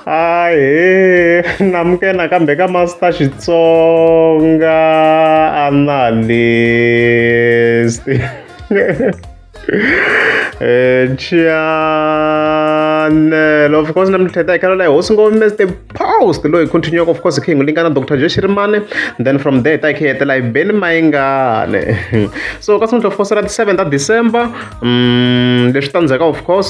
ahe namuke nakambe ka master xitsonga analyst eh, chanel of course na mithetha hi khalo layi hosi ngo mr post loyi continuaka of course hi kha hi n'wi lingana dr jeshirimane then from there ta hi kha hi hetela hi beni mayingane so ka sungula of course ra ti-seven ta december um leswi ta ndzhaka of course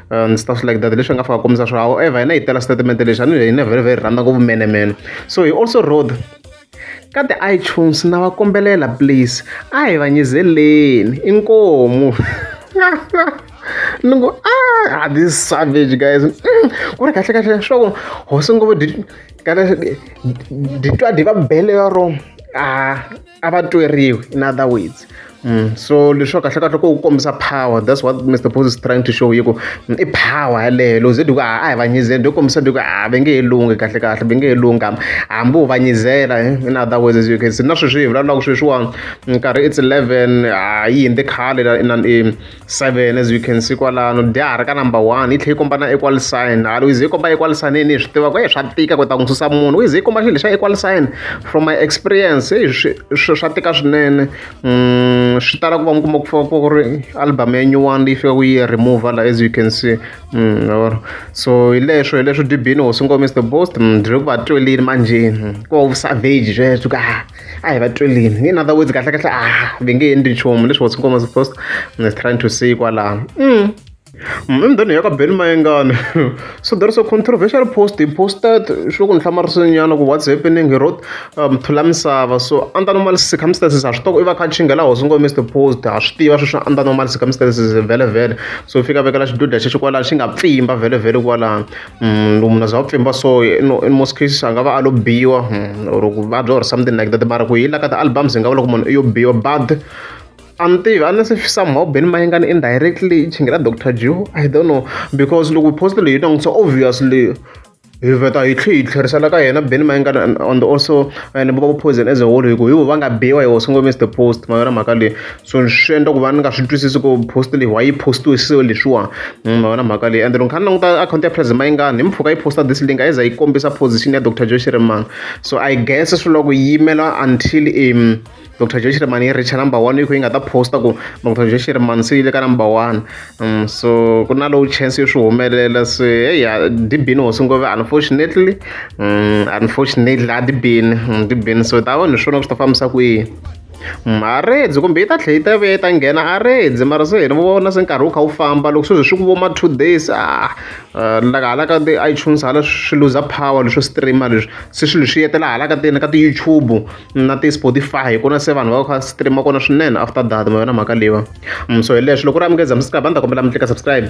ndzi ta swi like that hi leswi hi nga fika kombisa swa however hina hi tela xitatimende lexi a ni hina very very rhandza ngopfu menemene so hi also road ka ti-itunes na va kombelela please a hi va nyizeleni inkomu ni ngo ah this savage guys mm, ku ri kahle kahle swa ku hosi ngopfu kahle ditwa di va bele ya rona a ah, a va tweriwi in other words mm. so leswo kahle kahle ko ku kombisa power that's what mr pos is trying to show yi ku mm, i power yaleyo loko ze diku a hi vanyizeni loko kombisa diku a ve nge he lunghi kahle kahle ve nge he lunghi hambi hambi u vanyizela eh, in other words as you can see na sweswi hi vulavulaka sweswiwani nkarhi it's 11 a yi hindze khale 7 as we can see kwalano dya ha ri ka number one yi tlhela yi komba na equal sign halo yi ze yi komba equal sign yini hi swi tivaka e swa tika ku ta n'wi susa munhu yi ze yi komba xilo xa equal sign from my experience e swi swa tika swinene um swi tala ku va mi kuma ku fika ku ri album ya nyuwani leyi fika ku yi remove la as you can see um so hi leswo hi leswo dibini hosi ngomisa the boast dri ku va twelini manjheni ku va ku savage sweswo ka a hi va twelini in other words kahle kahle a ah, va nge endli nchumu leswi what's nkomo supposed is trying to say kwalano mm. emdhani ya ka ben mayengane so there is a controversial post he posted swi ku ni hlamarisinyana ku what's happening he wrote um, thula misava so under normal circumstances a swi toko i va kha chingela hosi ngo mr post a swi tiva sweswi under normal circumstances vhele vhele so fika vekela xiduda xexo kwalano xi nga pfimba vhele vhele kwalano munhu munhu a za a pfimba so no in most cases a nga va a lo biwa hmm, or ku vabya or something like that mara ku hi la ka ti-albums hi nga vula ku munhu i yo biwa but a ni tivi a ni se somehow beni mayengani indirectly i chingela dr jew i don't know because loko post leyi yi langutisa obviously hi veta hi tlhe hi tlherisela ka yena beni mayengana on the also and va poison as a whole hi ku hi vo va nga biwa hi wo sungomisa the post ma yona mhaka leyi so swi endla ku va ni nga swi twisisi ku post leyi wa yi postiwe so leswiwa mm, ma vona mhaka leyi ende loko kha ni languta akhawunti ya president mayingani hi mpfhuka yi posta this link a yi za yi kombisa position ya dr joe shirimani so i guess swi loko yi yimela until um dr joe shirimani yi richa number one yi kho yi nga ta posta ku dr joe shirimani se yi le ka number one um so ku na lowu chance yo swi humelela se heya dibini hosi ngove unfortunately um unfortunately a dibini mm, dibini so ta vanhu hi swona ku swi ta fambisa kwihi A rindze kumbe yi ta tlhela yi ta vuya yi ta nghena a rindze mara se hi ri vona se nkarhi wu kha wu famba loko sweswi swi ku vo ma two days a la ka hala ka ti-iTunes hala swi luza power leswo stream-a leswi se swilo swi hetelela hala ka ka ti-YouTube na ti-Spotify hi kona se vanhu va va kha va stream-a kona swinene after that ma yona mhaka leyiwani so hi leswo loko ku ri a mi nge za mi subscribe a ni ta kombela mi tlika subscribe.